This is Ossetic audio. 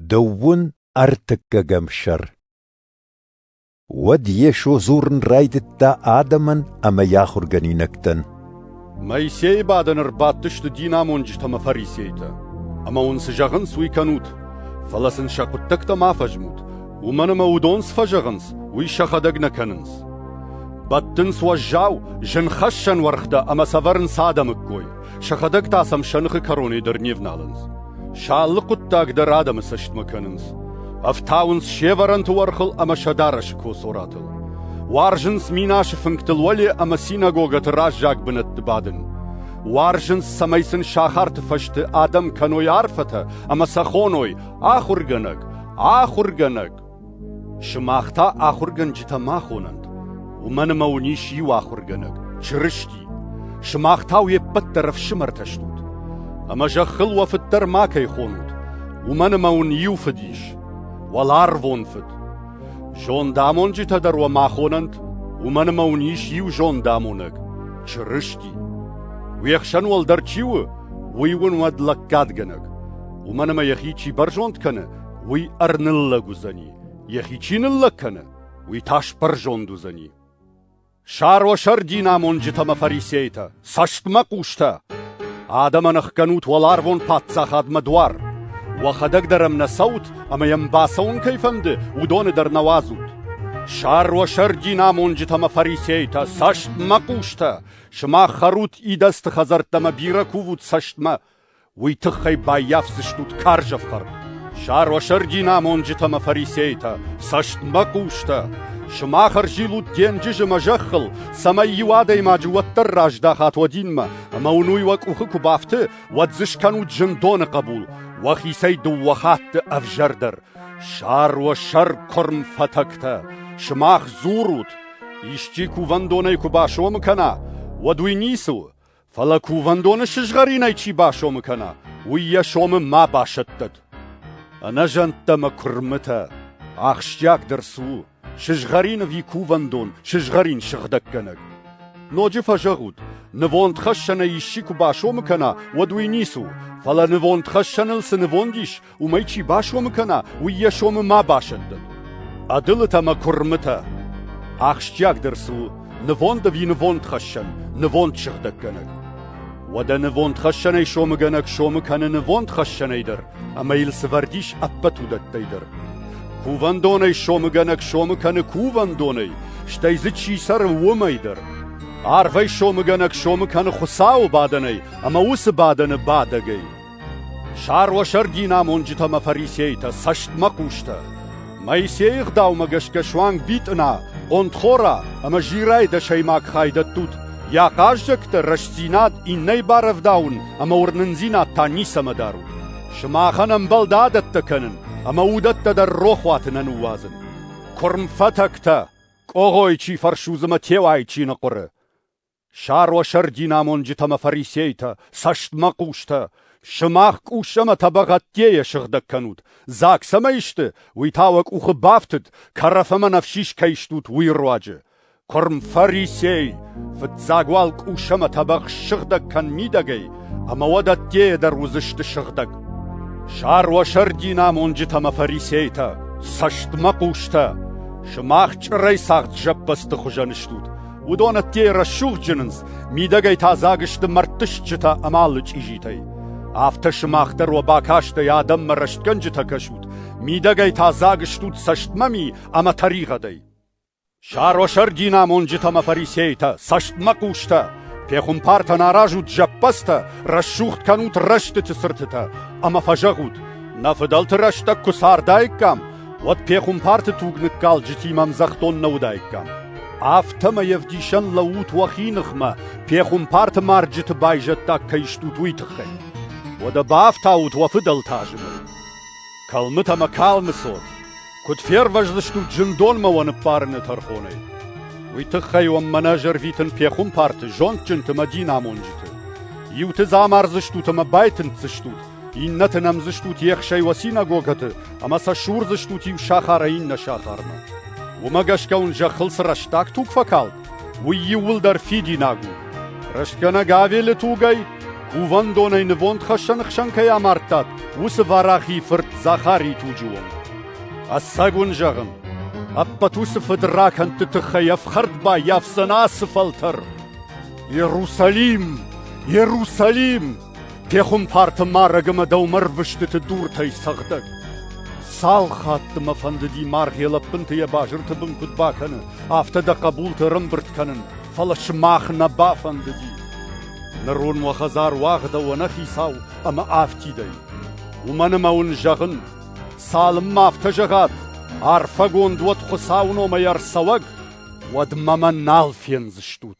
Дыууын ӕртыккӕгӕм сӕр Уӕд Йесо дзурын райдыдта адӕмӕн ӕмӕ йӕ ахуыргӕнинӕгтӕн. Моисейы бадӕн ӕрбадтысты динамонджытӕ ӕмӕ фарисейтӕ. Ӕмӕ уын цы зӕгъынц, уый кӕнут, фӕлӕ сын сӕ хъуыддӕгтӕ ма фӕзмут, уымӕн ӕмӕ уыдон цы фӕзӕгъынц, уый сӕхӕдӕг нӕ кӕнынц. Бӕттынц уӕззау, зынхӕссӕн уӕргътӕ ӕмӕ сӕвӕрынц адӕмы кой. сӕхӕдӕг та сӕм сӕ ныхы кӕронӕй дӕр не вналынц. Сӕ алы хъуыддаг дӕр адӕмы цӕстмӕ кӕнынц. Ӕфтауынц се вӕрӕнты уӕрхыл ӕмӕ сӕ дарӕсы косоратыл. Уарзынц минасы фынгтыл уӕле ӕмӕ синагогӕты раззаг бынӕтты бадын. Уарзынц, цӕмӕй сын сахарты фӕсты адӕм кӕной арфӕтӕ ӕмӕ сӕ хоной ахуыргӕнӕг, ахуыргӕнӕг. Сымах та ахуыргӕнджытӕ ма хонӕнт, уымӕн ӕмӕ уын ис иу ахуыргӕнӕг, Чырысти. Сымах та уе ппӕт дӕр ӕфсымӕртӕ стут. Ӕмӕ зӕххыл уӕ фыд дӕр макӕй хонут, уымӕн ӕмӕ уын иу фыд ис, уӕларвон Фыд. Зондамонджытӕ дӕр уӕ ма хонӕнт, уымӕн ӕмӕ уын ис иу зондамонӕг, Чырысти. Уе хсӕн уӕлдӕр чи у, уый уын уӕд лӕггадгӕнӕг. Уымӕн ӕмӕ йӕхи чи бӕрзонд кӕны, уый ӕрныллӕг уыдзӕни, йӕхи чи ныллӕг кӕны, уый та сбӕрзонд уыдзӕни. Саросӕрдинамонджытӕ мӕ фарисейтӕ, цӕстмӕ хъустӕ! Адӕмӕн ӕхгӕнут уӕларвон паддзахадмӕ дуар! Уӕхӕдӕг дӕр ӕм нӕ цӕут, ӕмӕ йӕм бацӕуын кӕй фӕнды, уыдоны дӕр нӕ уадзут. Саросӕрдинамонджытӕ мӕ фарисейтӕ, цӕстмӕ хъустӕ! Сымах хӕрут идӕдзты хӕдзӕрттӕ ӕмӕ бирӕ кувут цӕстмӕ! Уый тыххӕй баййафдзыстут карз ӕфхӕрд. Сӕросӕрдин амонджытӕ ӕмӕ фарисейтӕ, цӕстмӕ хъустӕ! Сымах ӕрзилут денджызы мӕ зӕххыл, цӕмӕй иу адӕймаджы уӕддӕр раздахат уӕ динмӕ, ӕмӕ уын уый уӕ къухы куы бафты, уӕд дзы скӕнут зындоны хъӕбул, уӕхицӕй дыууӕ хатты ӕвзӕрдӕр. Сӕросӕр куырм фӕтӕгтӕ! Сымах дзурут, исчи кувӕндонӕй куы басомы кӕна, уӕд уый ницы у, Фӕлӕ кувӕндоны сызгъӕринӕй чи басомы кӕна, уый йӕ сомы ма басӕттӕд. Ӕнӕзӕнттӕ мӕ куырмытӕ, ахсджиагдӕр цы у, сызгъӕрин ӕви кувӕндон, сызгъӕрин сыгъдӕггӕнӕг. Ноджы фӕзӕгъут, нывондхӕссӕнӕй исчи куы басомы кӕна, уӕд уый ницы у, фӕлӕ нывондхӕссӕныл цы нывонд ис, уымӕй чи басомы кӕна, уый йӕ сомы ма басӕттӕд. Ӕдылытӕ мӕ куырмытӕ! Ахсджиагдӕр цы у, нывонд ӕви нывондхӕссӕн, нывонд сыгъдӕггӕнӕг? Уӕдӕ нывондхӕссӕнӕй сомыгӕнӕг сомы кӕны нывондхӕссӕнӕй дӕр, ӕмӕ йыл цывӕрдис ӕппӕт уыдӕттӕй дӕр. Кувӕндонӕй сомыгӕнӕг сомы кӕны кувӕндонӕй, стӕй дзы чи цӕры, уымӕй дӕр. Арвӕй сомыгӕнӕг сомы кӕны Хуыцауы бадӕнӕй ӕмӕ уыцы бадӕны бадӕгӕй. Сӕросӕргин амонджытӕ ӕмӕ фарисейтӕ, цӕстмӕ хъустӕ! Моисейы ӕгъдаумӕ гӕсгӕ суанг битъына, къонтхора ӕмӕ зирӕйы дӕсӕймаг хай дӕттут, йӕ хъаззӕгтӕ рӕстдзинад иннӕй барӕвдауын ӕмӕ уырнындзинад та ницӕмӕ дарут. Сымахӕн ӕмбӕлд адӕттӕ кӕнын ӕмӕ уыдӕттӕ дӕр рохуаты нӕ ныууадзын. Куырм фӕтӕгтӕ, къогъойы чи фӕрсудзы ӕмӕ теуайы чи ныхъуыры. Сӕросӕрдинамонджытӕ ӕмӕ фарисейтӕ, цӕстмӕхъустӕ! Сымах къус ӕмӕ тӕбӕгъ ӕддейӕ сыгъдӕг кӕнут. дзаг цӕмӕй сты, уый та уӕ къухы бафтыд, кӕрӕф ӕмӕ ныфсис кӕй стут, уый руаджы. Куырм фарисей, фыццаг уал къус ӕмӕ тӕбӕгъ ссыгъдӕг кӕн мидӕгӕй, ӕмӕ уӕд ӕддейӕ дӕр уыдзысты сыгъдӕг. Сӕросӕрдинамонджытӕ ӕмӕ фарисейтӕ, цӕстмӕхъустӕ! Сымах чъырӕй цагъд зӕппӕдзты хуызӕн стут. Уыдон ӕддейӕ рӕсугъд зынынц, мидӕгӕй та дзаг сты мӕрдтысджытӕ ӕмӕ алы чъизитӕй. Афтӕ сымах дӕр уӕ бакастӕй адӕммӕ рӕстгӕнджытӕ кӕсут, мидӕгӕй та дзаг стут цӕстмӕ ми ӕмӕ тӕригъӕдӕй. Сӕросӕр динамонджытӕ ӕмӕ фарисейтӕ, цӕстмӕ хъустӕ! Пехуымпартӕн аразут зӕппӕдзтӕ, рӕсугъд кӕнут рӕстыты цыртытӕ ӕмӕ фӕзӕгъут, нӕ фыдӕлты рӕстӕг куы цардаиккам, уӕд пехуымпарты тугныккалджытимӕ ӕмдзӕхдон нӕ уыдаиккам. Афтӕмӕй ӕвдисӕн лӕуут уӕхи ныхмӕ, пехуымпарты марджыты байзӕддаг кӕй стут, уый тыххӕй. Уӕдӕ бафтаут уӕ фыдӕлты азымы. Кӕлмыт ӕмӕ калмы цот, куыд фервӕздзыстут зындонмӕ уӕ ныббарыны тӕрхонӕй, уый тыххӕй уӕм мӕнӕ ӕрӕрвитын пехуымпарты, зондджынты ӕмӕ динамонджыты. Иуты дзамардзыстут ӕмӕ байтынддзыстут, Иннӕты нӕмдзыстут ехсӕй уӕ синагогӕты ӕмӕ сӕ сурдзыстут-иу сахарӕй иннӕ сахармӕ. Уымӕ гӕсгӕ уын зӕххыл цы рӕстаг туг фӕкалд, уый иууылдӕр фидинаг у. Рӕстгӕнӕг Авелы тугӕй, кувӕндонӕй нывондхӕссӕны хсӕн кӕй амардтат, уыцы Варахийы фырт Захарийы туджы онг. Ӕцӕг уын зӕгъын, ӕппӕт уыцы фыдракӕндты тыххӕй ӕфхӕрд баййафдзӕн ацы фӕлтӕр. Иерусалим! Иерусалим! Пехуымпарты марӕг ӕмӕ дӕумӕ рвыстыты дуртӕй цӕгъдӕг. Цал хатты мӕ фӕндыди Маргъе лӕппынты йӕ базырты бын куыд бакӕны, афтӕ дӕ хъӕбулты ӕрӕмбырд кӕнын, фӕлӕ сымах нӕ бафӕндыди. Ныронг уӕ хӕдзар уӕгъдӕуы ӕнӕхицау ӕмӕ афтидӕй. Уымӕн ӕмӕ уын зӕгъын, цалынмӕ афтӕ зӕгъат, арфӕгонд уӕд Хуыцауы номӕй ӕрцӕуӕг, уӕдмӕ мӕ нал фендзыстут.